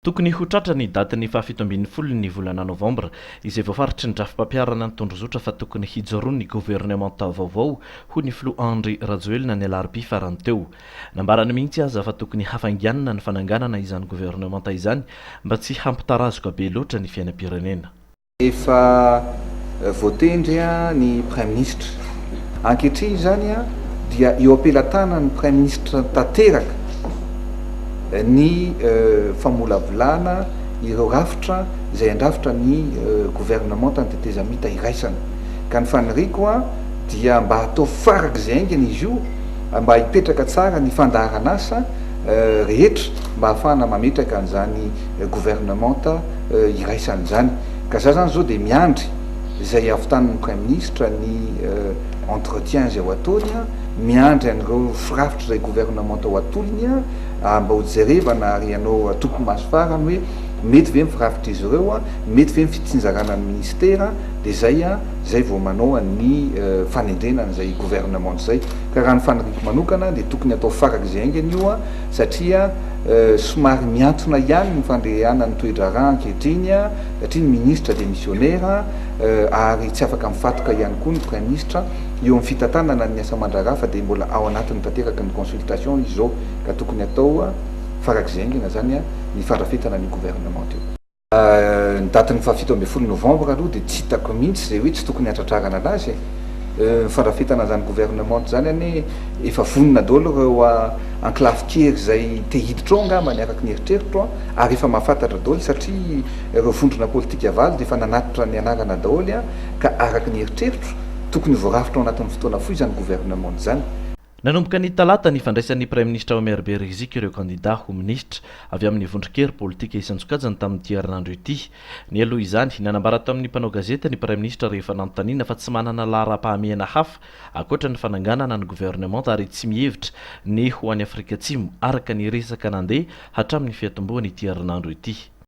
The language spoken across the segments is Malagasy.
Tokony ho tratra ny datin'ny fahafito ambin'ny folo ny volana novambra izay voafaritry ny drafi-pampiharana ny tondrozotra fa tokony hijoroan'ny governemanta vaovao, hoy ny filoha Andry Rajoelina ny alarobia farany teo. Nambarany mihitsy aza fa tokony hafainganina ny fananganana izany governemanta izany mba tsy hampitarazoka be loatra ny fiainam-pirenena. Efa voatendry ny Praiminisitra. Ankehitriny izany dia eo am-pelatanan'ny Praiminisitra tanteraka ny famolavolana ireo rafitra izay handrafitra ny governemantan'ny tetezamita iraisana. Ka ny faniriako dia mba hatao farak'izay haingana izy io. mba hipetraka tsara ny fandaharan'asa rehetra mba hahafahana mametraka an'izany governemanta iraisana izany. Ka za zany zao dia miandry izay havitanin'ny Praiminisitra ny entretien izay ho ataony, miandry an'ireo firafitry izay governemanta ho atolony ary mba ho jerevana ary hanao atoko maso farany hoe mety ve ny firafitr'izy ireo, mety ve ny fitsinjarana ny Ministera, dia izay izay vao manao ny fanendrena an'izay governemanta izay. ka raha ny faniriako manokana dia tokony atao farak' izay haingana io satria somary mihantona ihany ny fandehanan'ny toe-draharaha ankehitriny satria ny minisitra demisionera ary tsy afaka mifatoka ihany koa ny praiminisitra eo amin'ny fitantanana ny asa aman-draharaha fa dia mbola ao anatiny tanteraka ny consultation izao ka tokony atao farak' izay haingana izany ny fandrafetana an'io governemanta io. Ny date ny fahafito ambin'ny folo novembre aloha dia tsy hitako mihitsy izay hoe tsy tokony hatratrarana anazy e! Ny fandrafetana an'izany gouvernement izany anie efa vonona daholo ireo anklafy kely izay te hiditra ao angambany araka ny eritreritro an! Ary efa mahafantatra daholo satria ireo vondrona politika valo dia efa nanatitra ny anarana daholo an! Ka araka ny eritreritro tokony ho voarafitra ao anatin'ny fotoana fohy izany gouvernement izany. Nanomboka ny talata ny fandraisan'ny Praiminisitra Omerbe Rizik ireo kandidà ho minisitra avy amin'ny vondron-kery politika isan-tsokajiny tamin'ity herinandro ity. Nialoha izany, nanambara tamin'ny mpanao gazety ny Praiminisitra rehefa nanontaniana fa tsy manana laharam-pahamehana hafa ankoatra ny fananganana ny governemanta ary tsy mihevitra ny ho any Afrika Atsimo araka ny resaka nandeha hatramin'ny fiatombohan'ity herinandro ity.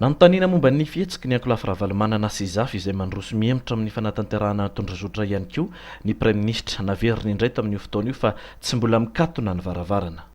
Nanontaniana momba ny fihetsiky ny ankolafy Ravalomanana sy Zafy izay mandroso mihemotra amin'ny fanatanterahana ny tondrazotra ihany koa ny praiminisitra. Naveriny indray tamin'io fotoana io fa tsy mbola mikatona ny varavarana.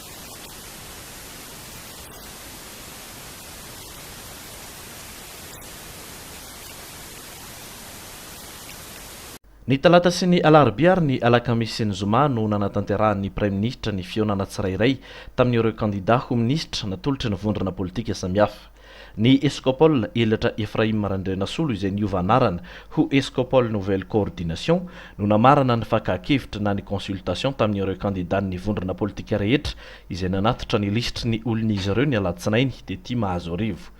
Ny talata sy ny alarobia ary ny alakamisy sy ny zoma no nanatanterahan'ny praiminisitra ny fihaonana tsirairay tamin'ireo kandida ho minisitra natolotry ny vondrona politika samihafa. Ny Escopol Elatra Ephraim Randrianasolo izay niova anarana ho Escopol Nouvelle Coordination no namarana ny fakàn-kevitra na ny consultation tamin'ireo kandidan'ny vondrona politika rehetra izay nanatitra ny lisitry ny olon'izy ireo ny alatsinainy tety Mahazoarivo.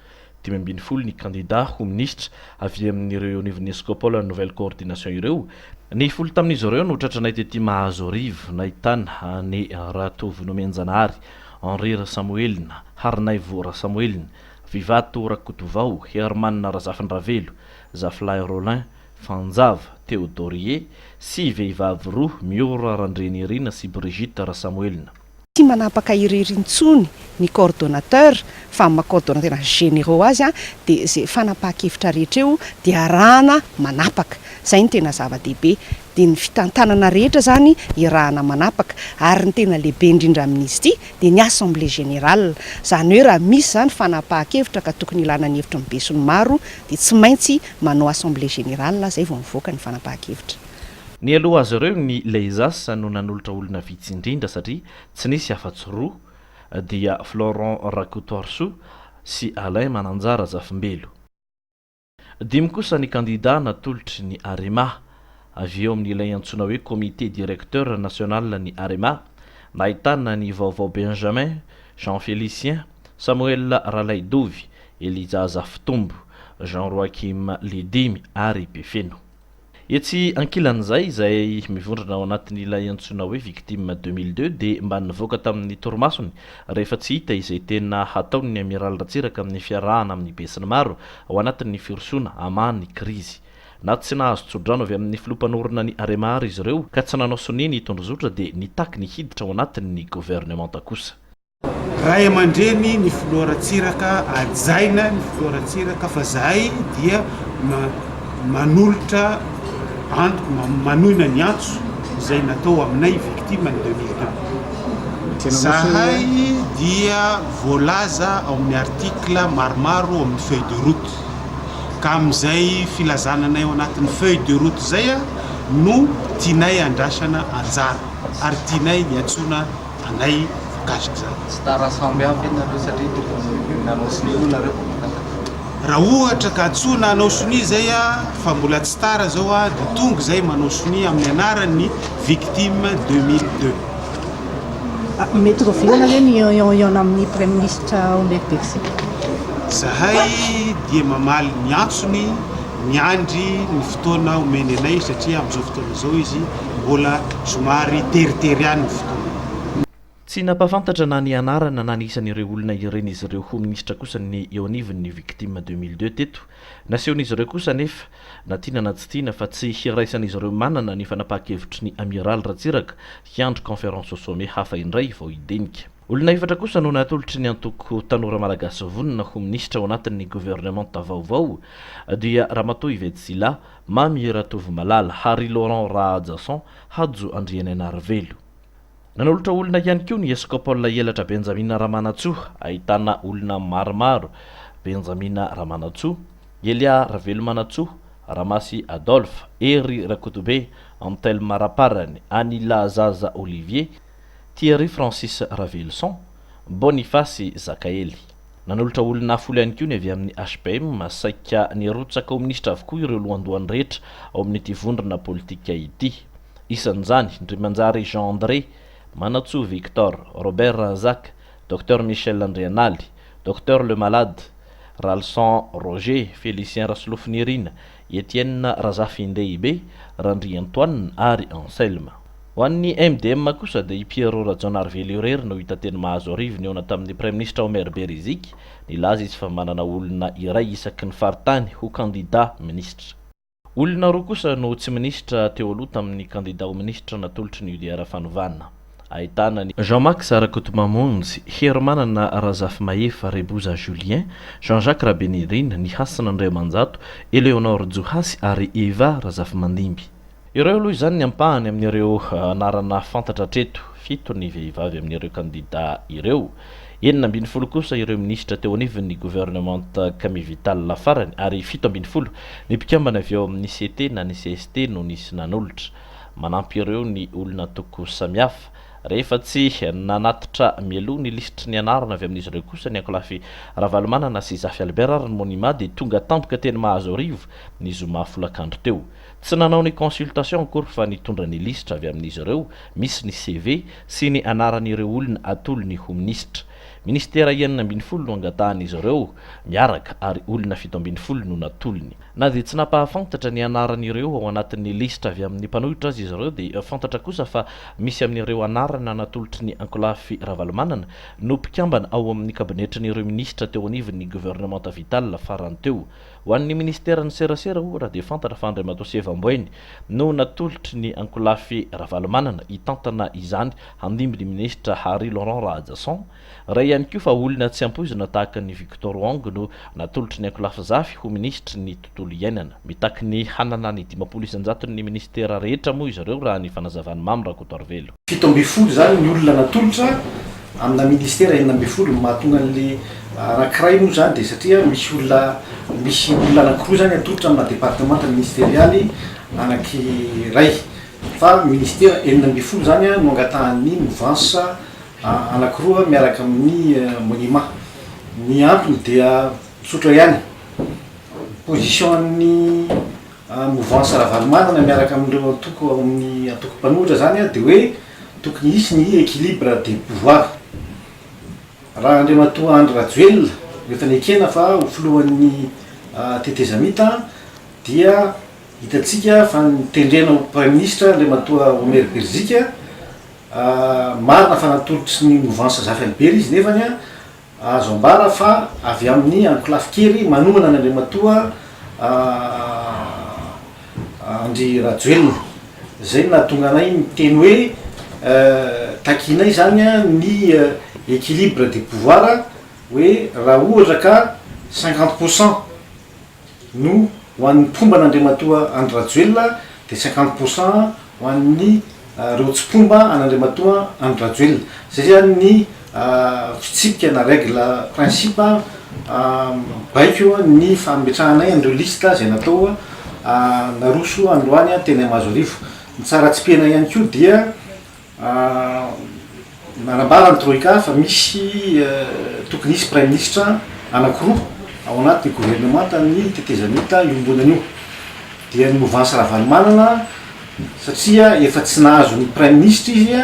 Dimy ambin'ny folo ny kandida ho minisitra avy amin'ireo eo anivon'ny Escopol Nouvelle Coordination ireo, ny folo tamin'izy ireo notratranay tety Mahazoarivo nahitana an'i Ratovonomenjanahary Henri Rasamoelina, Harinaivo Rasamoelina, Vivato Rakotovao, Herman Razafindravelo, Zafilahy Rolin, Fanjava, Theodorie, sy vehivavy roa, Miora Randrianirina sy Brigitte Rasamoelina. Tsy manapaka irery intsony ny coordonnateur fa maha coordonnateur tena généraux azy dia izay fanapahan-kevitra rehetra eo dia arahana manapaka. Izay no tena zava-dehibe. dia ny fitantanana rehetra izany iarahana manapaka, ary ny tena lehibe indrindra amin'izy ity dia ny assemblée générale, izany hoe raha misy izany fanapahan-kevitra ka tokony ilana ny hevitry ny besinimaro dia tsy maintsy manao assemblée générale izay vao mivoaka ny fanapahan-kevitra. Nialoha azy ireo ny Leisas no nanolotra olona vitsy indrindra satria tsy nisy afa-tsy roa dia Florent Rakotoarisoa sy Alain Mananjara Zafimbelo. Dimy kosa ny kandidà natolotry ny Arema. Avy eo amin'ilay antsoina hoe Comité Directeur National ny Arema, nahitana an'i Vaovao Benjamin, Jean Félicien, Samuel Ralaidovy, Elijah Zafitombo, Jean Roachim Lidimy ary Befeno. Etsy ankilan'izay, izay mivondrona ao anatin'ilay antsoina hoe Victimes deux mille deux dia mba nivoaka tamin'ny torimasony rehefa tsy hita izay tena hataon'ny Amiraly Ratsiraka amin'ny fiarahana amin'ny besinimaro ao anatin'ny firosoana hamaha ny krizy. Na tsy nahazo tsodrano avy amin'ny filoha mpanorina ny Arema àry izy ireo ka tsy nanao sonia ny Tondrozotra dia nitaky ny hiditra ao anatin'ny governemanta kosa. Ray aman-dreny ny filoha Ratsiraka, hajaina ny filoha Ratsiraka fa zahay dia manolotra antoko, manohina ny antso izay natao aminay victime ny deux mille deux. Zahay dia voalaza ao amin'ny article maromaro ao amin'ny feuille de route ka amin'izay filazana anay ao anatin'ny feuille de route izay no tianay andrasana anjara ary tianay hiantsoana. anay mikasika izany. Tsy tara sambo hafa ianareo satria tokony nanao sonia moa nareo vao tonga tato. Raha ohatra ka antsoina hanao sonia zay a fa mbola tsy tara zao a de tonga zay manao sonia amin'ny anaran'ny victime 2002. Mety rovirana ve ny ion ion ion amin'ny praiminisitra Omer Bexy? Zahay dia mamaly ny antsony, miandry ny fotoana omeny anay satria amin'izao fotoana izao izy. Mbola somary teritery ihany ny fotoana. Tsy nampahafantatra na ny anarana na ny isan'ireo olona ireny izy ireo ho minisitra kosa ny eo anivon'ny ny Victimes deux mille deux teto. Nasehon'izy ireo kosa anefa, na tiana na tsy tiana, fa tsy hiraisan'izy ireo manana ny fanapahan-kevitry ny Amiraly Ratsiraka hiandry conférence au sommet hafa indray vao hidinika. Olona efatra kosa no natolotry ny antoko Tanora Malagasy Vonona ho minisitra ao anatin'ny governemanta vaovao dia Ramatoa Yvette Sylla, Mamie Ratovomalala, Harry Laurent Rahajason, Hajo Andrianainarivelo. Nanolotra olona ihany koa ny Eskopaola Elatra Benjamina Ramanantsoa, ahitana olona maromaro, Benjamina Ramanantsoa, Elia Ravelomanantsoa, Ramasy Adolphe, Hery Rakotobe, Antelme Raparany, Anila Zaza Olivier, Thierry Francis Raveloson, Bonifasy Zakaely. Nanolotra olona folo ihany koa ny avy amin'ny HBM. Saika nirotsaka ho minisitra avokoa ireo lohandohany rehetra ao amin'ity vondrona politika ity. Isan'izany, Ndrimanjary Jean André, Manatsoa Victor, Robert Razaka, Docteur Michel Andrianaly, Docteur Lemalade, Ralison Roger, Félicien Rasolofonirina, Etienne Razafindehibe, Randriantoine ary Anselme. Ho an'ny MDM kosa dia i Pierrot Rajaonarivelo irery no hita teny Mahazoarivo nihaona tamin'ny Praiminisitra Omer Beriziky, nilaza izy fa manana olona iray isaky ny faritany ho kandida minisitra. Olona roa kosa no tsy minisitra teo aloha tamin'ny kandida ho minisitra natolotry ny UDR Fanovana. ahitana ny. Jean Max Rakotomamonjy, Herimanana Razafimahefa, Reboza Julien, Jean Jacques Rabenirina, Ny Hasina Andriamanjato, Eleonore Johasy ary Eva Razafimandimby. Ireo aloha izany ny ampahany amin'ireo anarana fantatra hatreto, fito ny vehivavy amin'ireo kandidà ireo, enina ambin'ny folo kosa ireo minisitra teo anivon'ny governemanta Camille Vital farany ary fito ambin'ny folo ny mpikambana avy ao amin'ny CT na ny cst no nisy nanolotra. Manampy ireo ny olon'antoko samihafa. Rehefa tsy nanatitra mialoha ny lisitry ny anarana avy amin'izy ireo kosa ny ankolafy Ravalomanana sy Zafy Albert ary ny Monima dia tonga tampoka teny Mahazoarivo ny zoma folakandro teo. Tsy nanao ny consultation akory fa nitondra ny lisitra avy amin'izy ireo misy ny CV sy ny anaran'ireo olona atolony ho minisitra. Ministera enina ambin'ny folo no angatahan'izy ireo miaraka ary olona fito ambin'ny folo no natolony. Na dia tsy nampahafantatra ny anaran'ireo ao anatin'ny lisitra avy amin'ny mpanohitra aza izy ireo dia fantatra kosa fa misy amin'ireo anarana natolotry ny Ankolafy Ravalomanana no mpikambana ao amin'ny kabinetrin'ireo minisitra teo anivon'ny governemanta Vital farany teo. Ho an'ny minisiteran'ny serasera ohatra dia fantatra fa Andriamatoa Seva Amboainy no natolotry ny Ankolafy Ravalomanana hitantana izany handimby ny minisitra Hary Laurent Rahajason Ray ihany koa fa olona tsy ampoizina tahaka an'i Victor Wong no natolotry ny ankolafy zafy ho minisitry ny tontolo iainana. Mitaky ny hanana ny dimampolo isan-jaton'ny minisitera rehetra moa izy ireo raha ny fanazavan'i Mamy Rakotoarivelo. Fito ambin'ny folo izany ny olona natolotra amina minisitera enina ambin'ny folo. Ny mahatonga an'ilay anankiray moa izany dia satria misy olona misy olona anankiroa izany atolotra amina departemanta ministerialy anankiray. Fa minisitera enina ambin'ny folo izany no angatahan'ny movansa. anankiroa miaraka amin'ny monima. Ny antony dia tsotra ihany, ny position-n'ny mouvance Ravalomanana miaraka amin'ireo antoko ao amin'ny antoko mpanohitra izany dia hoe tokony hisy ny equilibre des pouvoirs. Raha Andriamatoa Andry Rajoelina no efa nekena fa ho filohan'ny tetezamita dia hitantsika fa ny tendrena ho Praiminisitra Andriamatoa Omer Birzika Marina fa natolotry ny movansa Zafy Albert izy nefany azo ambara fa avy amin'ny ankolafy kely manohana an' Andriamatoa Andry Rajoelina izay no nahatonga anay miteny hoe takianay izany ny équilibre des pouvoirs hoe raha ohatra ka cinquante pour cent no ho an'ny mpomba an'Andriamatoa Andry Rajoelina dia cinquante pour cent ho an'ny ireo tsy mpomba an'Andriamatoa Andry Rajoelina. Izay zany ny fitsipika na règle principe baiko ny fametrahanay an'ireo liste izay natao naroso androany teny Mahazoarivo. Ny tsara tsipihana ihany koa dia. Nanambara ny Troika fa misy tokony hisy Praiminisitra anankiroa ao anatin'ny governemantan'ny tetezamita iombonana io. Dia ny movansy Ravalomanana satria efa tsy nahazo ny Praiminisitra izy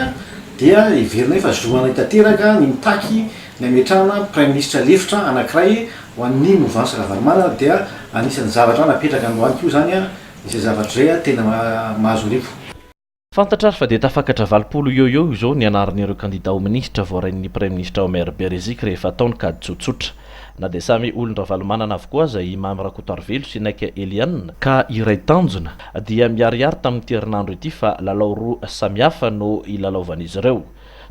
dia heverina hoe efa zoanay tanteraka ny mitaky ny hametrahana Praiminisitra lefitra anankiray ho an'ny movansy Ravalomanana dia anisan'ny zavatra napetraka androany koa izany izay zavatra izay tena mahazo rivo. Fantatra ary fa dia tafakatra valopolo eo eo izao ny anaran'ireo kandida ho minisitra voarain'ny praiminisitra Omer Beriziky rehefa atao ny kajy tsotsotra. Na dia samy olon-dRavalomanana avokoa aza i Mamy Rakotoarivelo sy Naika Eliane, ka iray tanjona dia miharihary tamin'ity herinandro ity fa lalao roa samihafa no hilalaovan'izy ireo.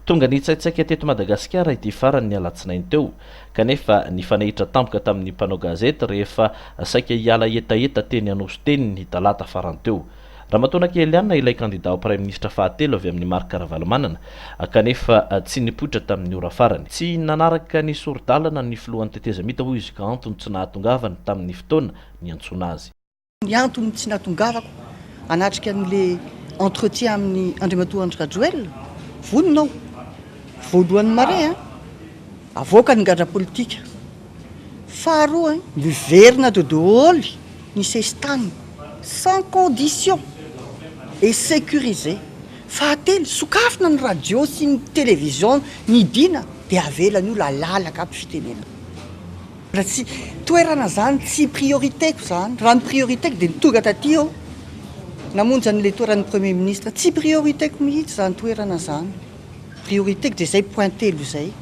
Tonga nitsaitsaika teto Madagasikara ity farany ny alatsinainy teo, kanefa nifanehitra tampoka tamin'ny mpanao gazety rehefa saika hiala hetaheta teny Anosy teny ny talata farany teo. Ramatoa Nakieliana ilay kandida ho praiminisitra fahatelo avy amin'ny marika Ravalomanana, kanefa tsy nipoitra tamin'ny ora farany. Tsy nanaraka ny sori-dalana ny filohan'ny tetezamita hoy izy ka antony tsy nahatongavany tamin'ny fotoana niantsoana azy. Ny antony tsy nahatongavako hanatrika an'ilay entretien amin'i Andriamatoa Andry Rajoelina, vonona aho, voalohany marin, havoaka ny gadra politika. Faharoa, miverina ato daholo ny sesitany sans condition et securisé. Fahatelo, sokafina ny radio sy ny television midina dia avela ny olona halalaka aby fitenenana. Mbola tsy toerana zany, tsy priorité-ko zany. Raha ny priorité-ko dia ny tonga taty aho namonjy an'ilay toeran'ny Premier Ministre. Tsy priorité-ko mihitsy zany toerana zany. Priorité-ko dia zay point telo zay.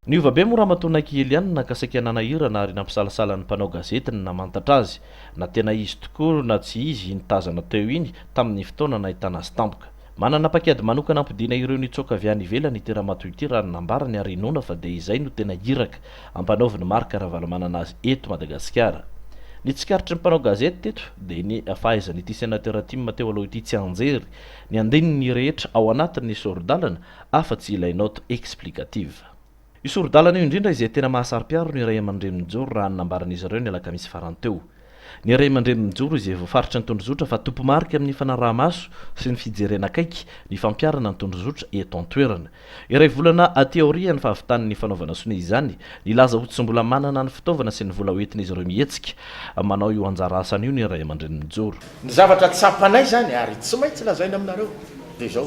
Niova be moa Ramatoa Naiky Eliane naka saika nanahirana ary nampisalasala ny mpanao gazety ny namantatra azy na tena izy tokoa na tsy izy iny tazana teo iny tamin'ny fotoana nahitana azy tampoka. Manana paikady manokana hampodiana ireo nitsoaka avy any ivelany ity Ramatoa ity raha ny nambarany ary inoana fa dia izay no tena iraka ampanaovin'i Marc Ravalomanana azy eto Madagasikara. Ny tsikaritry ny mpanao gazety teto dia ny fahaizan'ity Sénateur Tim teo aloha ity tsianjery ny andininy rehetra ao anatin'ny sori-dalana afa-tsy ilay note explicative. Io sori-dalana io indrindra izay tena mahasaro-piaro ny ray aman-dreny mijoro raha ny nambaran'izy ireo ny alakamisy farany teo. Ny ray aman-dreny mijoro izay voafaritry ny tondrozotra fa tompo-marika amin'ny fanaraha-maso sy ny fijerena akaiky ny fampiharana ny tondrozotra eto an-toerana. Iray volana aty aorian'ny fahavitan'ny fanaovana sonia izany, nilaza ho tsy mbola manana ny fitaovana sy ny vola hoentin'izy ireo mihetsika manao io anjara asany io ny ray aman-dreny mijoro. Ny zavatra tsapanay izany ary tsy maintsy lazaina aminareo dia izao,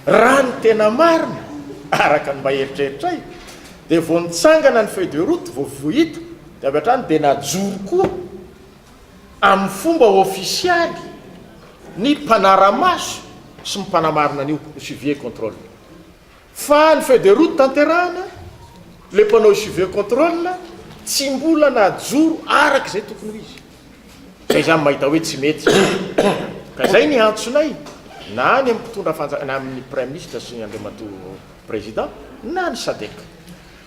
Raha ny tena marina, araka ny mba eritreritray, dia vao nitsangana ny feuille de route, vao vohita, dia avy hatrany dia najoro koa amin'ny fomba ofisialy ny mpanara-maso sy ny mpanamarina an'io, ny suivi et controle. Fa ny feuille de route tanterahana, ilay mpanao suivi et controle tsy mbola najoro araka izay tokony ho izy. Zay zany mahita hoe tsy mety. Ka zay ny antsonay na any amin'ny mpitondra fanjaka na amin'ny praiminisitra sy Andriamatoa Président na ny Sadec.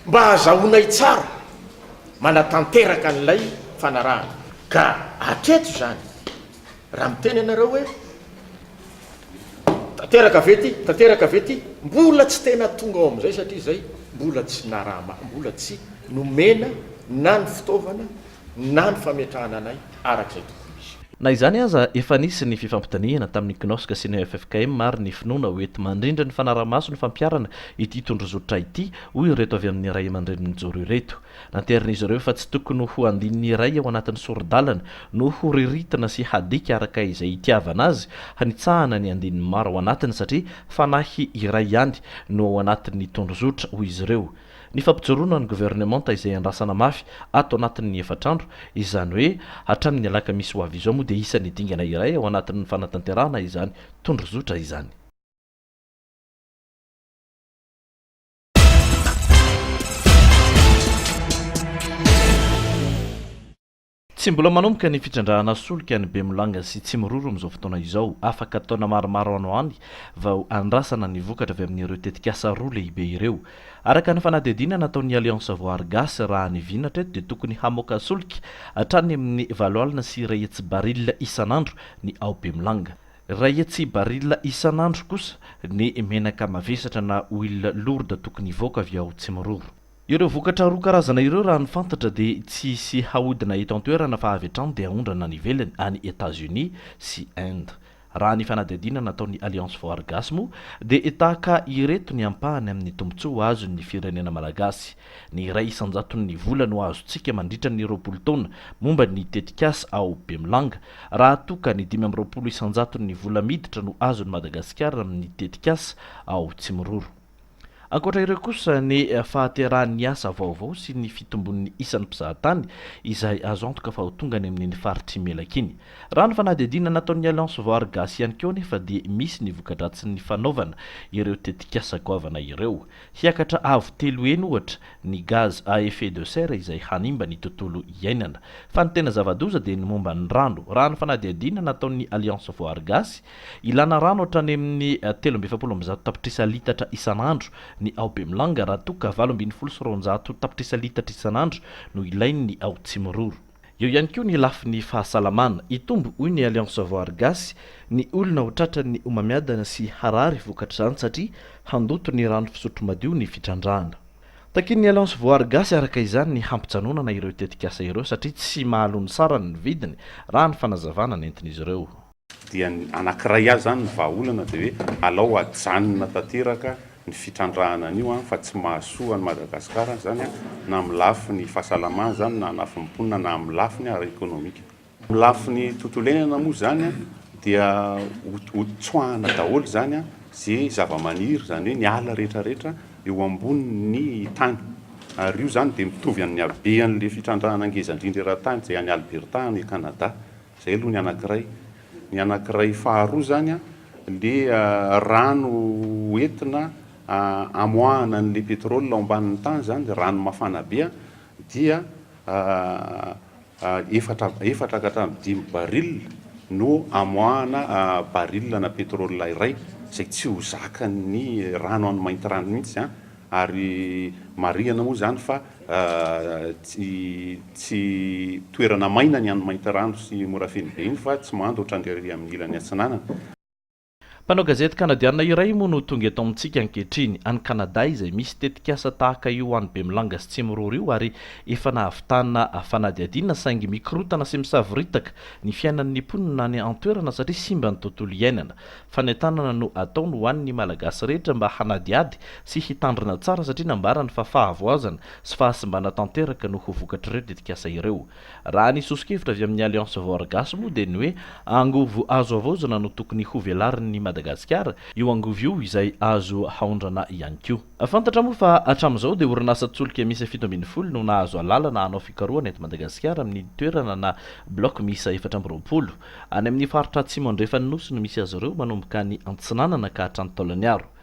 Mba azahoanay tsara manatanteraka an'ilay fanarahana. Ka hatreto zany raha miteny ianareo hoe tanteraka ve ty, tanteraka ve ty, mbola tsy tena tonga ao amin'izay satria zay mbola tsy naraha-, mbola tsy nomena na ny fitaovana na ny fametrahana anay araka izay tokony izy. Na izany aza, efa nisy ny fifampidinihana tamin'ny Cnosc sy ny ffkm ary ny finoana ho enti-mandrindra ny fanarahamaso ny fampiharana ity tondrozotra ity, hoy ireto avy amin'ny ray aman-drenin'ny mijoro ireto. Nanterin'izy ireo fa tsy tokony ho andininy iray ao anatin'ny sori-dalana no horiritina sy hadika araka izay itiavana azy, hanitsahana ny andininy maro ao anatiny satria fanahy iray ihany no ao anatin'ny tondrozotra, hoy izy ireo. Ny fampijoroana ny governemanta izay andrasana mafy ato anatin'ny efatr'andro, izany hoe hatramin'ny alakamisy ho avy izao moa dia isan'ny dingana iray ao anatin'ny fanatanterahana izany tondrozotra izany. Tsy mbola manomboka ny fitrandrahana solika any Bemolanga sy Tsimiroro amin'izao fotoana izao. Afaka taona maromaro any ho any vao andrasana ny vokatra avy amin'ireo tetikasa roa lehibe ireo. Araka ny fanadihadiana nataon'ny Alliance Voary Gasy raha ny vina hatreto dia tokony hamoaka solika hatrany amin'ny valo alina sy iray hetsy barila isan'andro ny ao Bemolanga. Iray hetsy barila isan'andro kosa ny menaka mavesatra na huile lourde tokony hivoaka avy ao Tsimiroro. Ireo vokatra roa karazana ireo raha ny fantatra dia tsy hisy haodina eto an-toerana fa avy hatrany dia haondrana any ivelany, any Etats-Unis sy Inde. Raha ny fanadihadiana nataon'ny Alliance for Argas moa dia tahaka ireto ny ampahany amin'ny tombontsoa azon'ny firenena malagasy, ny iray isan-jaton'ny vola no azontsika mandritra ny roapolo taona momba ny tetikasa ao Bemilanga raha toa ka ny dimy amby roapolo isan-jaton'ny vola miditra no azon'i Madagasikara amin'ny tetikasa ao Tsimiroro. Ankoatra ireo kosa ny fahaterahan'ny asa vaovao sy ny fitombon'ny isan'ny mpizahatany izay azo antoka fa ho tonga any amin'iny faritr'Imelaka iny. Raha ny fanadihadiana nataon'ny Alliance Voary Gasy ihany koa anefa dia misy ny voka-dratsin'ny fanaovana ireo tetikasa goavana ireo. Hiakatra avo telo heny ohatra ny gaz à effet de serre izay hanimba ny tontolo iainana. Fa ny tena zava-doza dia ny momba ny rano. Raha ny fanadihadiana nataon'ny Alliance Voary Gasy, Ilana rano hatrany amin'ny telo amby efapolo amby zato tapitrisa litatra isan'andro ny ao Bemilanga raha toa ka valo ambin'ny folo sy roanjato tapitrisa litatra isan'andro no ilain'ny ao Tsimiroro. Eo ihany koa ny lafiny fahasalamana. Hitombo, hoy ny Alliance Voary Gasy, ny olona ho tratran'ny homamiadana sy harary vokatr'izany satria handoto ny rano fisotro madio ny fitrandrahana. Takian'ny Alliance Voary Gasy araka izany ny hampijanonana ireo tetikasa ireo satria tsy mahaloa ny sarany ny vidiny, raha ny fanazavana nentin'izy ireo. dia ny anankiray azy zany ny vahaolana dia hoe alao ajanona tanteraka ny fitrandrahana an'io an, fa tsy mahasoa an'i Madagasikara izany an, na amin'ny lafiny fahasalamana izany na lafiny mponina na amin'ny lafiny ara ekonomika. Amin'ny lafiny tontolo iainana moa izany an, dia ho ho tsoahana daholo izany an, ze zava-maniry izany hoe ny ala rehetra rehetra eo ambonin'ny tany, ary io izany dia mitovy amin'ny habean'ilay fitrandrahana ngeza indrindra eran-tany izay any Alberta any Canada. Izay aloha ny anankiray. Ny anankiray faharoa izany ilay rano hoentina hamoahana an'ilay pétrole ao ambanin'ny tany izany, rano mafana be, dia efatra efatra ka hatramin'ny dimy baril no hamoahana baril ana pétrole iray izay tsy ho zakan'ny rano any maintirano mihitsy Ary marihana moa izany fa tsy toerana maina ny any Maintirano sy Morafenobe iny fa tsy mando ohatran'ny ery amin'ny ilany atsinanana. Mpanao gazety Kanadiana iray moa no tonga eto amintsika ankehitriny, any Kanada izay misy tetikasa tahaka io ho an'i Bemilanga sy Tsimiroro io ary efa nahavitana fanadihadiana saingy mikorotana sy misavoritaka ny fiainan'ny mponina any an-toerana satria simba ny tontolo iainana. Fanentanana no ataony ho an' ny Malagasy rehetra mba hanadihady sy hitandrina tsara satria nambarany fa fahavoazana sy fahasimbana tanteraka no ho vokatr' ireo tetikasa ireo. Raha ny soso-kevitra avy amin' ny Alliance Voar Gasy moa dia ny hoe angovo azo havaozana no tokony hovelarin' i Madagasikara io angovo io izay azo haondrana ihany koa. Fantatra moa fa hatramin' izao dia orinasa tsolika miisa fito ambin'ny folo no nahazo alalana hanao fikarohana eto Madagasikara amin' ny toerana na bloc miisa efatra amby roapolo. Any amin'ny faritra atsimo andrefan'ny Nosy no misy azy ireo, manomboka any Antsinanana ka hatrany Taolagnaro.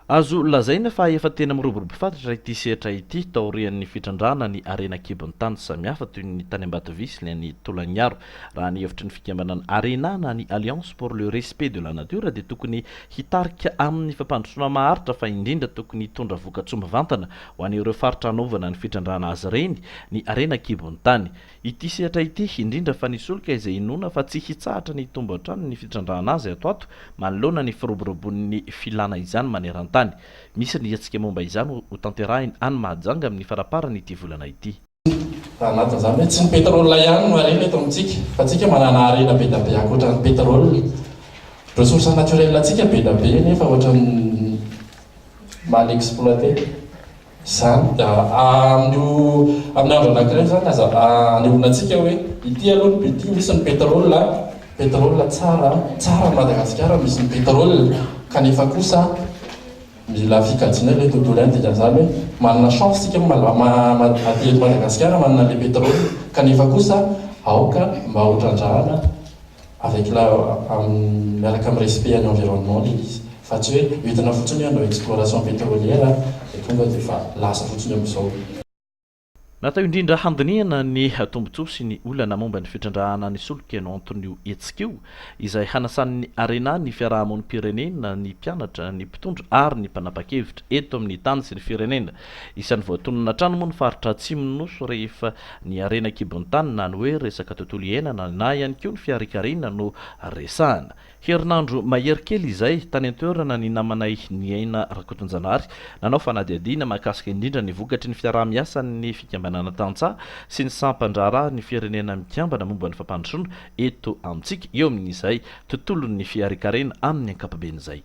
Azo lazaina fa efa tena miroborobo fatratra ity sehatra ity, taorian'ny fitrandrahana ny harena an-kibon'ny tany samihafa toy ny tany Ambatovy sy ny any Tolagnaro. Raha ny hevitry ny fikambanana Arena na ny Alliance pour le respect de la nature dia tokony hitarika amin'ny fampandrosoana maharitra fa indrindra tokony hitondra vokatsoa mivantana ho an'ireo faritra hanaovana ny fitrandrahana azy ireny ny harena an-kibon'ny tany Ity sehatra ity, indrindra fa ny solika izay inoana fa tsy hitsahatra ny hitombo hatrany ny fitrandrahana azy ato ato manoloana ny firoborobon'ny filana izany maneran-tany. Misy ny hetsika momba izany ho tanterahiny any Mahajanga amin'ny faraparan'ity volana ity. Raha nanja izany hoe tsy ny pétrole ihany no harena eto amintsika fa tsika manana harena be da be ankoatran'ny pétrole. Ressource naturelle tsika be da be nefa ohatran'ny mal exploiter. Zany da andro amin'ny andro anakiray zany aza anehoana antsika hoe ity aloha ny but ity misy ny petrol a, petrol tsara a, tsara ny Madagasikara misy ny petrol kanefa kosa mila fikajiana ilay tontolo ihany dikan'izany hoe manana chance tsika aty eto Madagasikara manana ilay petrol kanefa kosa aoka mba ho trandrahana avec la miaraka amin'ny respect an'ny environnement ilay izy fa tsy hoe entina fotsiny hoe hanao exploration petrolière dia tonga dia efa lasa fotsiny amin'izao. Natao indrindra handinihana ny tombontsoa sy ny olana momba ny fitrandrahana ny solika no anton'io hetsika io, izay hanasan'ny Arena ny fiaraha-monim-pirenena, ny mpianatra, ny mpitondra ary ny mpanapa-kevitra eto amin'ny tany sy ny firenena. Isan'ny voatonona hatrany moa ny faritra atsimon'ny Nosy rehefa ny harena an-kibon'ny tany na ny hoe resaka tontolo iainana na ihany koa ny fiharinkarina no resahana. Herinandro mahery kely izay, tany an-toerana ny namanay Niaina Rakotonjanahary nanao fanadihadiana mahakasika indrindra ny vokatry ny fiaraha-miasan'ny Fikambanana Tantsaha sy ny Sampan-draharaha ny Firenena Mikambana momba ny Fampandrosoana eto amintsika eo amin'izay tontolon'ny fiharinkarena amin'ny ankapobeny izay.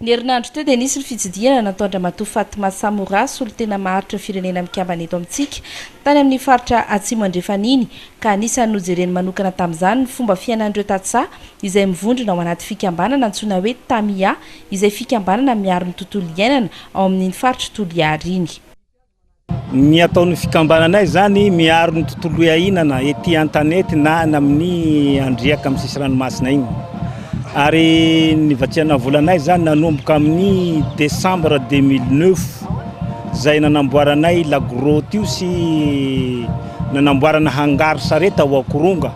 Ny herinandro teo dia nisy ny fitsidihana nataon-dRamatoa Fatma Samora, solontena maharitra firenena mikambana eto amintsika, tany amin'ny faritra Atsimo Andrefan'iny, ka anisan'ny nojereny manokana tamin'izany ny fomba fiainan'ireo tantsaha izay mivondrona ao anaty fikambanana antsoina hoe Tamia, izay fikambanana miaro ny tontolo iainana ao amin'iny faritr'i Toliara iny. Ny ataon'ny fikambananay izany miaro ny tontolo iainana ety an-tanety na any amin'ny andriaka amin'ny sisy ranomasina iny. Ary ny vatsiana volanay izany nanomboka amin'ny décembre 2009 izay nanamboaranay la grotte io sy nanamboarana hangar sarety ao Akoronga.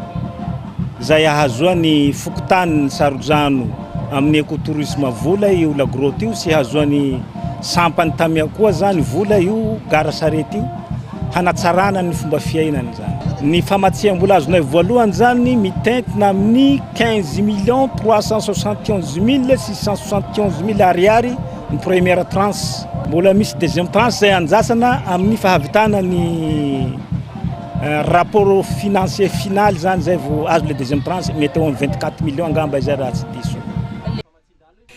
izay ahazoan'ny fokontanin'i Sarodrano amin'ny écotourisme vola io La Grotte io sy hahazoan'ny sampan'i Tamia koa izany vola io gara sarety io hanatsarana ny fomba fiainany izany. Ny famatsiam-bola azonay voalohany izany mitentina amin'ny quinze millions trois cent soixante et onze mille six cent soixante et onze mille ariary ny première tranche. Mbola misy deuxième tranche izay andrasana amin'ny fahavitana ny. Rapport financier final zany zay vao azo le deuxième tranche, mety eo am vingt quatre millions angamba izay raha tsy diso.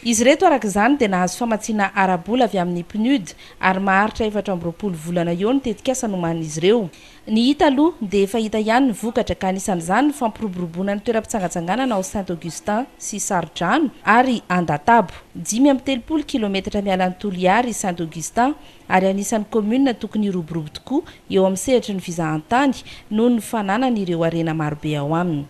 Izy ireto araka izany dia nahazo famatsiana ara-bola avy amin'ny Pnud ary maharitra efatra amby roapolo volana eo ny tetikasa nomanin'izy ireo. Ny hita aloha dia efa hita ihany ny vokatra ka anisan'izany ny fampiroboroboana ny toeram-pitsangatsanganana ao Saint Augustin sy Sarodrano ary Andatabo, dimy amby telopolo kilometatra miala an'i Toliary i Saint Augustin ary anisan'ny kaominina tokony hiroborobo tokoa eo amin'ny sehatry ny fizahantany noho ny fananany ireo harena marobe ao aminy.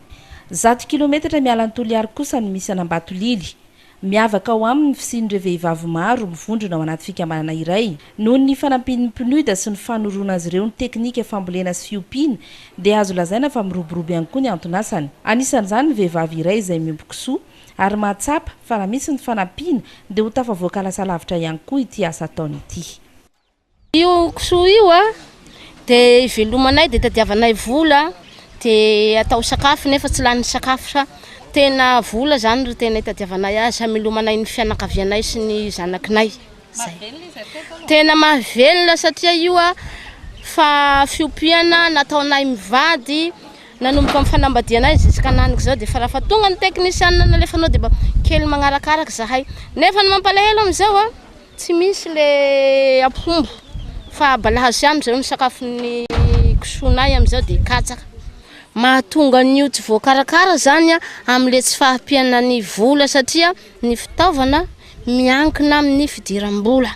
Zato kilometatra miala an'i Toliary kosa no misy an'Ambatolily. Miavaka ao aminy ny fisian'ireo vehivavy maro mivondrona ao anaty fikambanana iray. Noho ny fanampian'ny PNUD sy ny fanoroana azy ireo ny teknika fambolena sy fiompiana dia azo lazaina fa miroborobo ihany koa ny anton'asany. Anisan'izany ny vehivavy iray izay miompy kisoa, ary mahatsapa fa raha misy ny fanampiana dia ho tafavoaka lasa lavitra ihany koa ity asa ataony ity. Io kisoa io dia ivelomanay dia itadiavanay vola dia atao sakafo nefa tsy lanin'ny sakafo fa tena vola izany no tena itadiavanay azy hamelomanay ny fianakavianay sy ny zanakinay. Zay. Tena mahavelona satria io a fa fiompiana nataonay mivady nanomboka ny fanambadianay ziskananiko zao de fa raha fa tonga ny technician nalefanao de mba kely magnarakaraka zahay nefa ny mampalahelo amizao a tsy misy le ampombo fa balahazo ihany amizao ny sakafon'ny kisoanay amizao de katsaka mahatonga an'io tsy voakarakara zany a amle tsy fahampiana ny vola satria ny fitaovana miankina amin'ny fidiram-bola.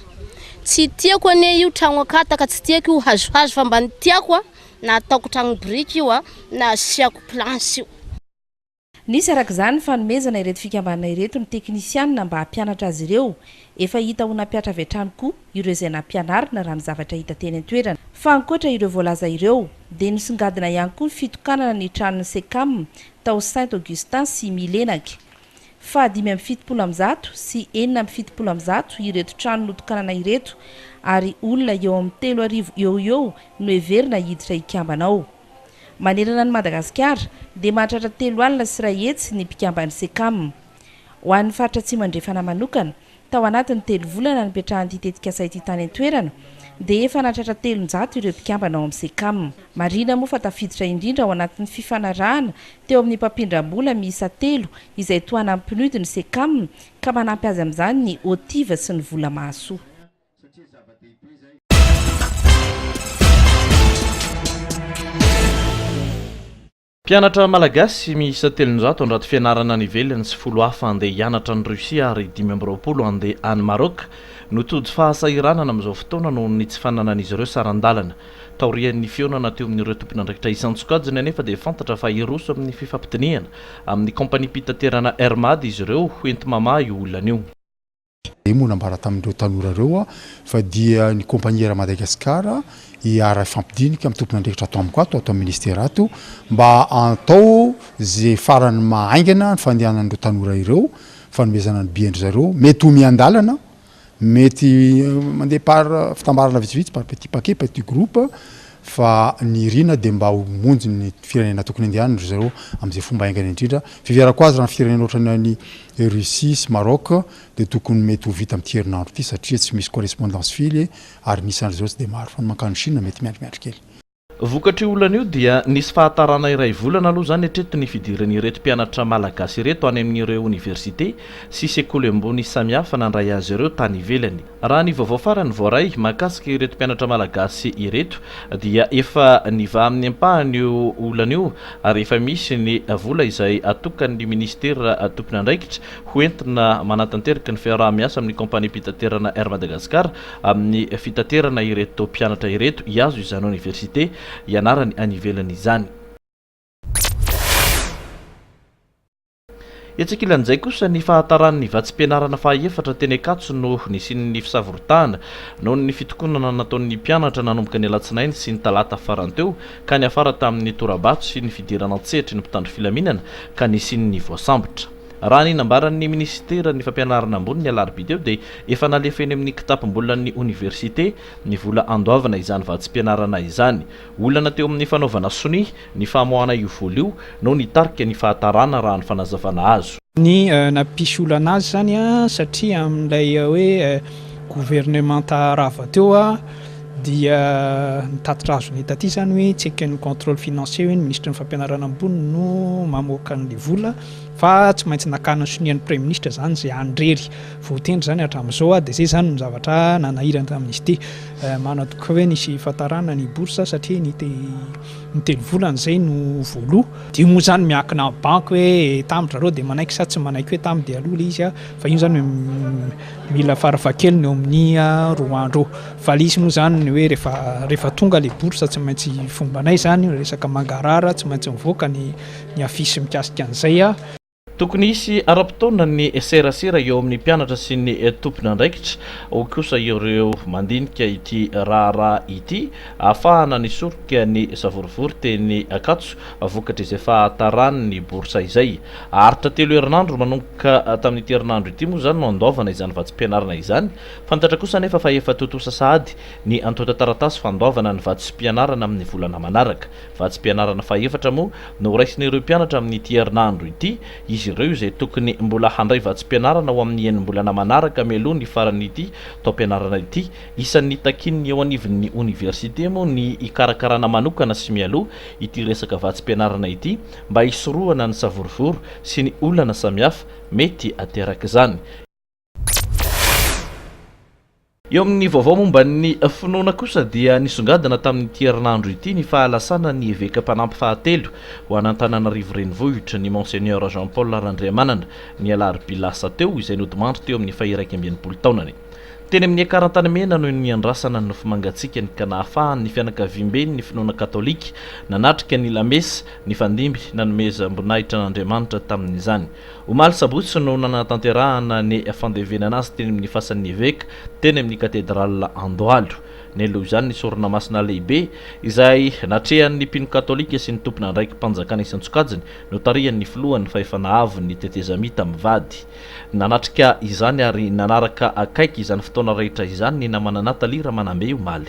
Tsy tiako anie io tragno akataka, tsy tiako io hazohazo fa mba ny tiako na ataoko tragno biriky io na asiako planche io. Nisy araka izany ny fanomezana ireto fikambanana ireto ny teknisianina mba hampianatra azy ireo. Efa hita ho nampiatra avy hatrany koa ireo izay nampianarina raha ny zavatra hita teny an-toerana. Fa ankoatra ireo voalaza ireo dia nisongadina ihany koa ny fitokanana ny tranon'ny Cecam tao Saint Augustin sy Milenac. Faha dimy amby fitopolo amby zato sy enina amby fitopolo amby zato ireto trano notokanana ireto ary olona eo amin'ny telo arivo eo ho eo no heverina hiditra hikambana ao. Manerana an'i Madagasikara dia mahatratra telo alina sy iray hetsy ny mpikamban'ny Cecam. Ho an'ny faritra Atsimo Andrefana manokana Tao anatin'ny telo volana nipetrahan'ity tetikasa ity tany an-toerana dia efa nahatratra telonjato ireo mpikambana ao amin'ny Cecam. Marihina moa fa tafiditra indrindra ao anatin'ny fifanarahana teo amin'ny mpampindram-bola miisa telo izay toa hanan'ny PNUD ny Cecam ka manampy azy amin'izany ny OTIV sy ny vola mahasoa. Mpianatra malagasy miisa telonjato handrato fianarana any ivelany sy folo hafa handeha hianatra any Russie ary dimy amby roapolo handeha any Maroc no tojo fahasahiranana amin'izao fotoana noho ny tsy fananan'izy ireo saran-dalana. Taorian'ny fihaonana teo amin'ireo tompon'andraikitra isan-tsokajiny anefa dia fantatra fa hiroso amin'ny fifampidinihana amin'ny kaompaniam-pitaterana Air Mad izy ireo ho enti-mamaha io olana io. Dia moa nambara tamin'ireo tanora ireo aho fa dia ny Kompaniera Madagascar iara ifampidinika amin'ny tompon'andraikitra ato amiko ato, ato amin'ny Ministera ato mba atao izay farany maha haingana ny fandehanan'ireo tanora ireo, fanomezana ny bien-dry zareo, mety ho miandalana, mety mandeha par fitambarana vitsivitsy, par petit paquet, petit groupe, fa ny irina dia mba ho monjy ny firenena tokony handehanany ry zareo amin'izay fomba haingana indrindra, fiheverako azy raha ny firenena ohatran'ny an'i Russie sy Maroc dia tokony mety ho vita amin'ity herinandro ity satria tsy misy correspondance fily ary ny isan'ry zareo tsy dia maro, fa ny mankany Chine mety miandriandry kely. Vokatr'io olana io dia nisy fahatarana iray volana aloha izany hatreto ny fidiran'ireto mpianatra malagasy ireto any amin'ireo oniversite sy sekoly ambony samihafa nandray azy ireo tany ivelany. Raha ny vaovao farany voaray mahakasika ireto mpianatra malagasy ireto dia efa nivaha amin'ny ampahany io olana io ary efa misy ny vola izay atokan'ny minisitera tompon'andraikitra ho entina manatanteraka ny fiaraha-miasa amin'ny kaompaniam-pitaterana Air Madagascar amin'ny fitaterana ireto mpianatra ireto hiazo izany oniversite hianarany any ivelany izany. Etsy ankilan'izay kosa, ny fahataran'ny vatsim-pianarana fahaefatra teny Ankatso no nisian'ny fisavorotahana noho ny fitokonana nataon'ny mpianatra nanomboka ny alatsinainy sy ny talata farany teo ka niafara tamin'ny tora-bato sy ny fidirana an-tsehatry ny mpitandro filaminana ka nisian'ny voasambotra. Raha ny nambaran'ny minisiteran'ny fampianarana ambony ny alarobia teo dia efa nalefa eny amin'ny kitapom-bolan'ny oniversite ny vola handoavana izany vatsim-pianarana izany. Olana teo amin'ny fanaovana sonia ny famoahana io vola io no nitarika ny fahatarana raha ny fanazavana azo. Ny nampisy olana azy izany satria amin'ilay hoe governemanta rava teo dia ny tatitra azony hita aty izany hoe tsy eken'ny contrôle financier hoe ny minisitry ny fampianarana ambony no mamoaka an'ilay vola fa tsy maintsy nakana sonia ny praiminisitra izany izay handrery voatendry izany hatramin'izao dia izay izany no zavatra nanahirana tamin'izy ity. Manatokaka hoe nisy hifantarana ny bourse satria ny ny telo volana izay no voaloha. Dia moa izany miankina amin'ny banky hoe tamin-dry zareo dia manaiky sa tsy manaiky hoe tamin-dia aloha ilay izy fa iny izany mila farafahakeliny eo amin'ny roa andro eo. Fa ilay izy moa izany hoe rehefa rehefa tonga ilay bourse tsy maintsy fombanay izany resaka mangarahara tsy maintsy mivoaka ny ny affiche mikasika an'izay. Tokony hisy ara-potoana ny serasera eo amin'ny mpianatra sy ny tompon'andraikitra, hoy kosa ireo mandinika ity raharaha ity, hahafahana nisoroka ny savorovoro teny Ankatso vokatr'izay fahataranin'ny bourse izay. Haharitra telo herinandro manomboka tamin'ity herinandro ity moa izany no handoavana izany vatsim-pianarana izany. Fantatra kosa anefa fa efa tontosa sahady ny antontan-taratasy fandoavana ny vatsim-pianarana amin'ny volana manaraka. Vatsim-pianarana fahefatra moa no horaisin'ireo mpianatra amin'ity herinandro ity, izy ireo izay tokony mbola handray vatsim-pianarana ho amin'ny enim-bolana manaraka mialoha ny faran'ity taom-pianarana ity. Isan'ny takian'ny eo anivon'ny oniversite moa ny hikarakarana manokana sy mialoha ity resaka vatsim-pianarana ity mba hisorohana ny savorovoro sy ny olana samihafa mety aterak'izany. Eo amin'ny vaovao momba ny finoana kosa dia nisongadina tamin'ity herinandro ity ny fahalasana ny eveka mpanampy fahatelo ho an'Antananarivo Renivohitra, ny Monseigneur Jean Paul Randriamanana, ny alarobia lasa teo, izay nodimandry teo amin'ny faha-iraika amby enimpolo taonany. Teny amin'ny ekar Antanimena no niandrasana ny nofo mangatsiakany ka nahafahan'ny fianakaviamben'ny finoana katolika nanatrika ny lamesa nifandimby nanomezam-boninahitra an'Andriamanitra tamin'izany. Omaly sabotsy no nanatanterahana ny fandevenana azy teny amin'ny fasan'ny eveka, teny amin'ny katedraly Andohalo. Nialoha izany ny sorona masina lehibe, izay natrehan'ny mpino katolika sy ny tompon'andraiki-panjakana isan-tsokajiny, notarihan'ny filohan'ny fahefana avin'ny tetezamita mivady. Nanatrika izany ary nanaraka akaiky izany fotoana rehetra izany ny namana Nathalie Ramanambe omaly.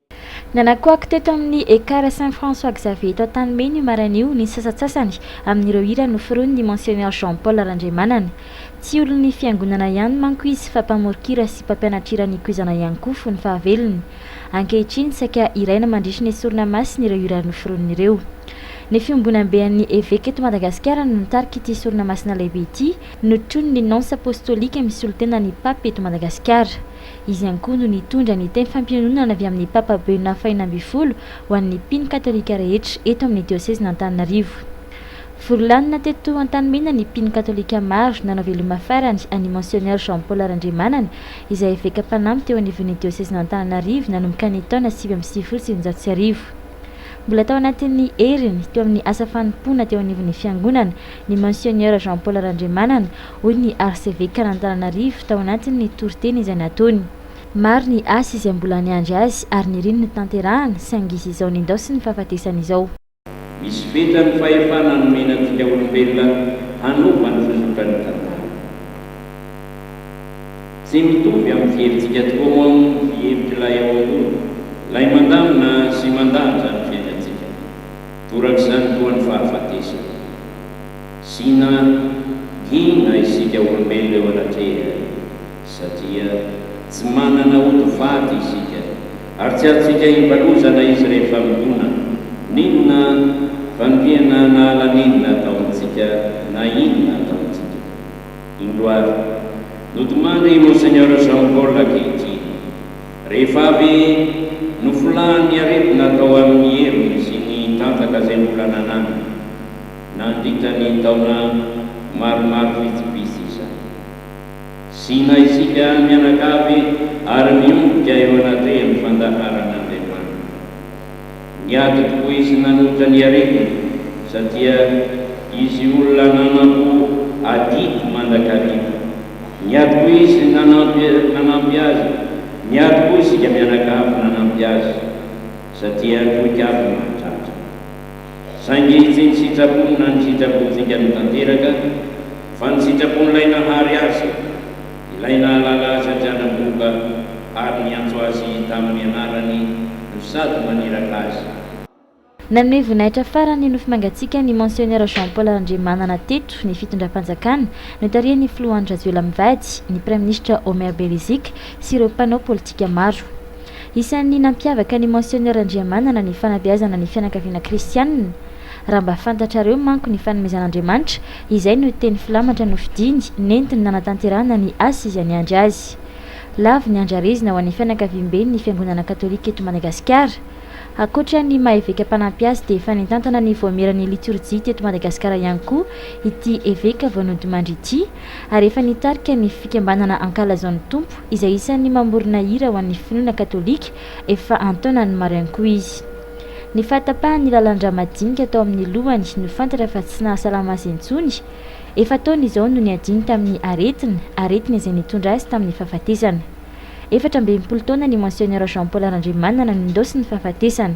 Nanakoako teto amin'ny Ekar Saint François Xavier eto Antanimena io maraina io ny sasatsasany amin'ireo hira noforonin'ny Monsionneur Jean Paul Randriamanana. Tsy olon'ny Fiangonana ihany manko izy fa mpamoron-kira sy mpampianatr'hira nikoizana ihany koa fony fahavelony. Ankehitriny saika hiraina mandritry ny sorona masina ireo hira noforoniny ireo. Ny Fiombonambe an'ny Eveka eto Madagasikara no nitarika ity sorona masina lehibe ity notronin'ny Nonce Apostolique misolo tena ny Pape eto Madagasikara. Izy ihany koa no nitondra ny teny fampiononana avy amin'ny Papa Benoît faheno ambin'ny folo ho an'ny mpino katolika rehetra eto amin'ny diosezin'Antananarivo. Vory lanona teto Antanimena ny mpino katolika maro nanao veloma farany an'i Monsionneur Jean Paul Randriamanana izay eveka mpanampy teo anivon'ny diosezin'Antananarivo nanomboka ny taona sivy amby sivifolo sy sivinjato sy arivo. Mbola tao anatin'ny heriny teo amin'ny asa fanompoana teo anivon'ny Fiangonana ny Monsionneur Jean Paul Randriamanana, hoy ny Arsevekan'Antananarivo tao anatin'ny toriteny izay nataony. Maro ny asa izay mbola niandry azy ary niriny ny tanterahana saingy izy izao nendaosiny ny fahafatesany izao. Misy fetrany fahefana nomena antsika olombelona hanao vanon-tsozotra ny tantara. Tsy mitovy amin'ny fihevitsika tokoa moa ny fihevitr'ilay ao ambony, ilay mandamina sy mandanja ny fiainantsika. Torak'izany koa ny fahafatesana. Sina hina isika olombelona eo anatrehany satria tsy manana ody faty isika ary tsy azontsika hivalozana izy rehefa mitona, n'inona fa ny tena nahala n'inona ataontsika na inona ataontsika. Indro ary, notomany i Monseigneur Jean Paul ankehitriny. Rehefa avy nofolahan'ny aretina tao amin'ny heriny sy ny tanjaka izay mbola nananany nandritra ny taona maromaro vitsivitsy izany, sina isika mianakavy ary miombika eo anatrehan'ny fandaharan'Andriamanitra. Niady tokoa izy nanohitra ny aretina satria izy olona nanampo adidy mandrakariva. Niady koa izy nanampy nanampy azy. Niady koa isika mianakavy nanampy azy satria troika avy mahatratra. Saingy tsy ny sitrapony na ny sitrapontsika no tanteraka fa ny sitrapon'ilay nahary azy. Ilay nahalala azy an-dRanamboba ary niantso azy tamin'ny anarany no sady naniraka azy. Nanome voninahitra farany nofy mangatsiaka ny Monsionneur Jean Paul Randriamanana teto ny fitondram-panjakana notarihan'ny Filoha Andry Rajoelina mivady, ny Praiminisitra Omer Beriziky sy ireo mpanao politika maro. Isan'ny nampiavaka ny Monsionneur Randriamanana ny fanabeazana ny fianakaviana kristianina. Raha mba fantatrareo manko ny fanomezan'Andriamanitra, izay no teny filamatra nofidiny, nentiny nanatanterahana ny asa Izy niandry azy. Lavo ny andrarezina ho an'ny fianakaviamben'ny Fiangonana Katolika eto Madagasikara. Ankoatra ny maha eveka mpanampy azy dia efa nitantana ny voamieran'ny litorjia teto Madagasikara ihany koa ity eveka vao nodimandry ity ary efa nitarika ny fikambanana Ankalazaon'ny Tompo izay isan'ny mamorona hira ho an'ny finoana katolika Efa an-taonany maro ihany koa izy. Ny fahatapahan'ny lalan-drà madinika tao amin'ny lohany no fantatra fa tsy nahasalama azy intsony. Efa-taona izao no niadiany tamin'ny aretina, aretina izay nitondra azy tamin'ny fahafatesana. Efatra amby enimpolo taona ny Monsiegneur Jean Paul Randriamanana no nindaosin'ny fahafatesana.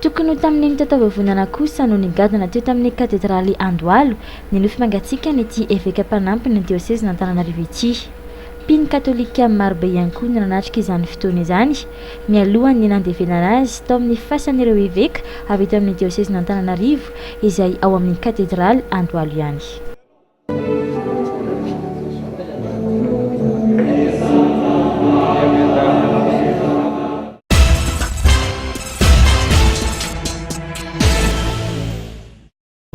Tokony ho tamin'iny taotavovonana kosa no nigadona teo tamin'ny katedraly Andohalo ny nofy mangatsiakan'ity eveka mpanampin'ny diosezin'Antananarivo ity. Mpino katolika marobe ihany koa no nanatrika izany fotoana izany, nialohan'ny nandevenana azy tao amin'ny fasan'ireo eveka avy eto amin'ny diosezin'Antananarivo izay ao amin'ny katedraly Andohalo ihany.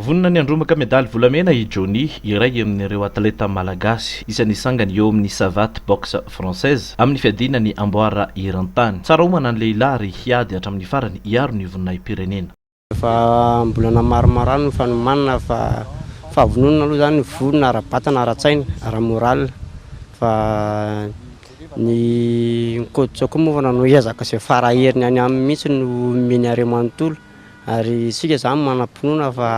Vonona ny handrombaka medaly volamena i Johnny, iray amin'ireo atleta malagasy izay nisangany eo amin'ny Savate Boxe Française amin'ny fiadiana ny amboara eran-tany. Tsara homana ny lehilahy ary hiady hatramin'ny farany hiaro ny voninahi-pirenena. Efa am-bolana maromaro any no fanomanana fa fahavononana aloha izany ny vola ara-batana, ara-tsaina, ara-moral fa ny coach koa moa nanao ezaka izay fara heriny any aminy mihitsy no omeny hareo manontolo ary isika izany manam-pinoana fa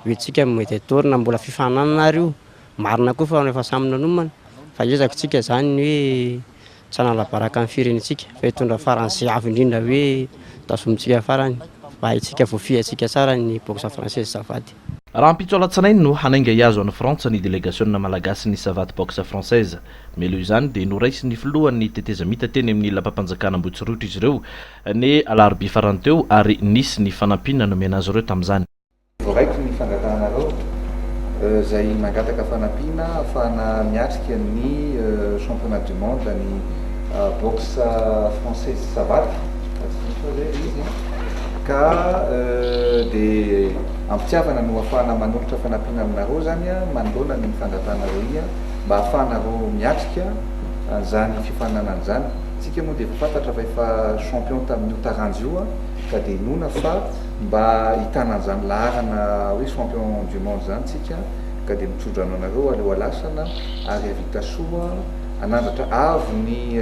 ho antsika ny medaille d'or na mbola fifaninanana ary io, marina koa fa efa samy nanomana fa ezaka isika izany ny hoe. tsy hanalabaraka ny firenentsika fa hitondra farany sy avo indrindra hoe tazomintsika farany mba hahintsika voafihantsika tsara ny boxe française savaty. Rahampitso alatsinainy no hanainga hihazo an'i Frantsa ny delegasionina malagasin'ny savaty boxe française. Mialoha izany dia noraisin'ny filohan'ny tetezamita teny amin'ny lapam-panjakana Ambohitsorohitra izy ireo ny alarobia farany teo ary nisy ny fanampiana nomena azy ireo tamin'izany. Voaraiko ny fangatahanareo izay mangataka fanampiana ahafahana miatrika ny Championnat du Monde an'ny Boxe Française Savate, raha tsy diso aho izay ilay izy an, ka dia am-pitiavana no ahafahana manolotra fanampiana aminareo izany manoloana ny fangatahanareo iny an, mba ahafahanareo miatrika an'izany fifaninanana izany. Isika moa dia efa fantatra fa efa champion tamin'io taranja io an, ka dia inoana fa. Mba hitana an'izany laharana hoe champion du monde izany tsika ka dia mitsodrano anareo aleo alasana ary havita soa hanandratra avo ny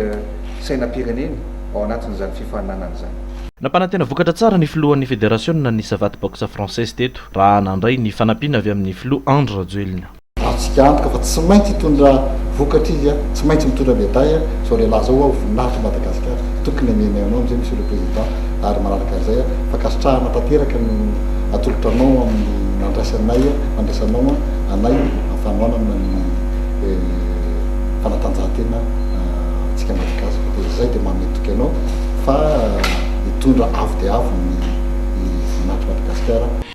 sainam-pireneny ao anatin'izany fifaninanana izany. Nampanantena vokatra tsara ny filohan'ny federasiona ny Savate Boxe Française teto raha nandray ny fanampiana avy amin'ny filoha Andry Rajoelina. Azontsika antoka fa tsy maintsy hitondra vokatra izy a, tsy maintsy mitondra medaille a, izao lehilahy izao ho'aho voninahitry Madagasikara, tokony hameno anao amin'izay Monsieur le Président ary manaraka an'izay a, fankasitrahana tanteraka no atolotra anao amin'ny nandraisanay a, nandraisanao a, anay amin'ny fanohanana ny fanatanjahantena antsika Malagasy fa dia izay dia manome toky anao fa hitondra avo dia avo ny voninahitry Madagasikara.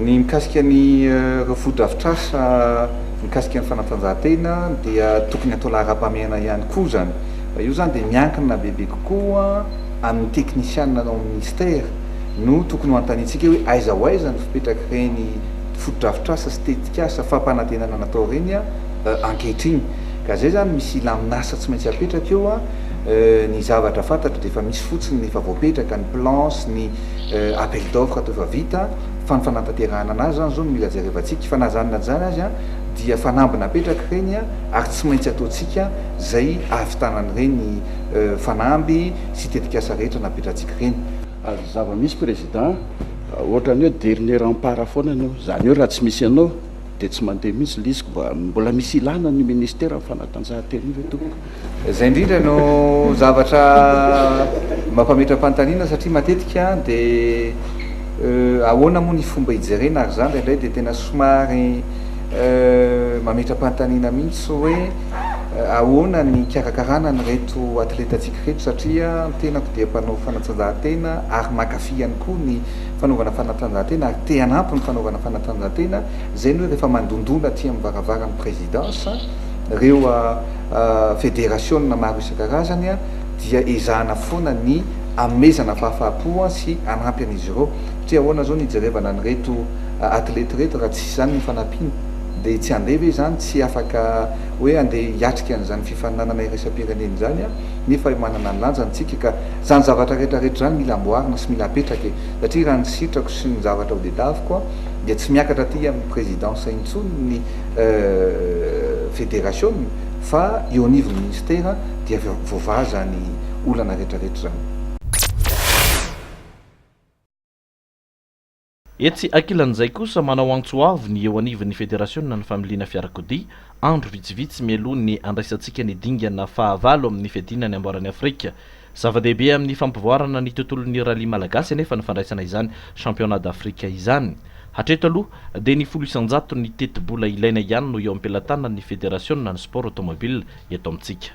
Ny mikasika ny ireo fotodrafitrasa mikasika ny fanatanjahantena dia tokony atao laharam-pahamehana ihany koa izany. Fa io izany dia miankina bebe kokoa amin'ny teknisianina ao amin'ny minisitera no tokony ho anontaniantsika hoe aiza ho aiza ny fipetrak'ireny fotodrafitrasa sy tetikasa fampanantenana natao ireny ankehitriny. Ka izay izany misy hilamin'asa tsy maintsy apetraka eo. Ny zavatra fantatro dia efa misy fotsiny ny efa voapetraka, ny plan sy ny. appel d'offre toa efa vita fa ny fanantanterahana anazy zany zao no mila jerevantsika fa na zany na zany aza dia fanamby napetraka ireny ary tsy maintsy ataontsika zay ahavitanany ireny fanamby sy tetikasa rehetra napetratsika ireny. Ary zava misy président otrany oe dernier rempart foana ny eo zany oe raha tsy misy anao dia tsy mandeha mihitsy lisiko mba mbola misy ilana ny ministère ny fanatanjahantena io ve tompoko? Izay indrindra no zavatra mampametram-panontaniana satria matetika dia ahoana moa ny fomba hijerena ary izany indraindray dia tena somary mametram-panontaniana mihitsy hoe ahoana ny hikarakarana an'ireto atletantsika ireto satria ny tenako dia mpanao fanatanjahantena ary mankafy ihany koa ny fanaovana fanatanjahantena ary te hanampy ny fanaovana fanatanjahantena izay ny hoe rehefa mandondona aty amin'ny varavaran'ny présidence ireo federasiona maro isan-karazany dia ezahana foana ny hanomezana fahafaha-po sy hanampy an'izy ireo satria ahoana izao ny hijerevana an'ireto atlety ireto raha tsisy izany ny fanampiana dia tsy handeha ve izany tsy afaka hoe handeha hiatrika an'izany fifaninanana iraisam-pirenena izany nefa manana ny lanjany isika ka izany zavatra rehetra rehetra izany mila amboarina sy mila apetraka e satria raha ny sitrako sy ny zavatra hodedaviko dia tsy miakatra aty amin'ny présidence intsony ny federasiona fa eo anivon'ny minisitera dia voavaha izany olana rehetrarehetra izany. Etsy ankilan'izay kosa, manao antso avo ny eo anivon'ny federasionan'ny familiana fiarakodia, andro vitsivitsy mialoha ny handraisantsika ny dingana fahavalo amin'ny fiadiana ny amboaran'i Afrika. Zava-dehibe amin'ny fampivoarana ny tontolon'ny rallye malagasy anefa ny fandraisana izany Championnat d'Afrique izany. Hatreto aloha dia ny folo isan-jato ny tetibola ilaina ihany no eo am-pelatanan'ny federasionan'ny sport automobile eto amintsika.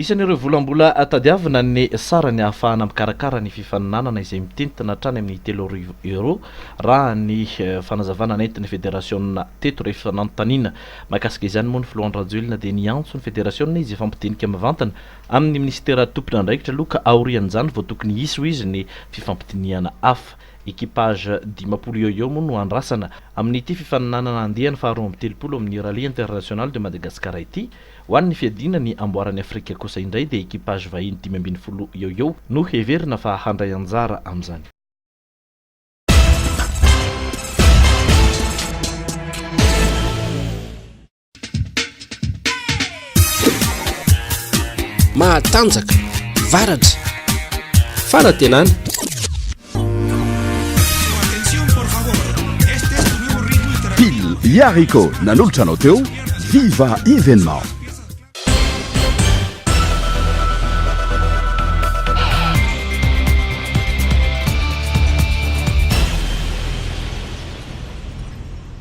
Isan'ireo vola mbola tadiavina ny sarany ahafahana mikarakara ny fifaninanana izay mitentina hatrany amin'ny telo arivo euros raha ny fanazavana nentin'ny federasiona teto rehefa nanontaniana mahakasika izany moa ny filoha Andry Rajoelina dia niantso ny federasiona izy efa mpidinika mivantana amin'ny minisitera tompon'andraikitra aloha ka aorian'izany vao tokony hisy hoy izy ny fifampidinihana hafa Equipage dimampolo eo eo moa no andrasana amin'ity fifaninanana andiany faharoa amby telopolo amin'ny Rallye International de Madagascar ity. Ho an'ny fiadiana ny amboaran'i Afrika kosa indray dia equipage vahiny dimy ambin'ny folo eo eo no heverina fa handray anjara amin'izany. mahatanjaka varatra fanatenana pile iarico nanolotra anao teo viva événement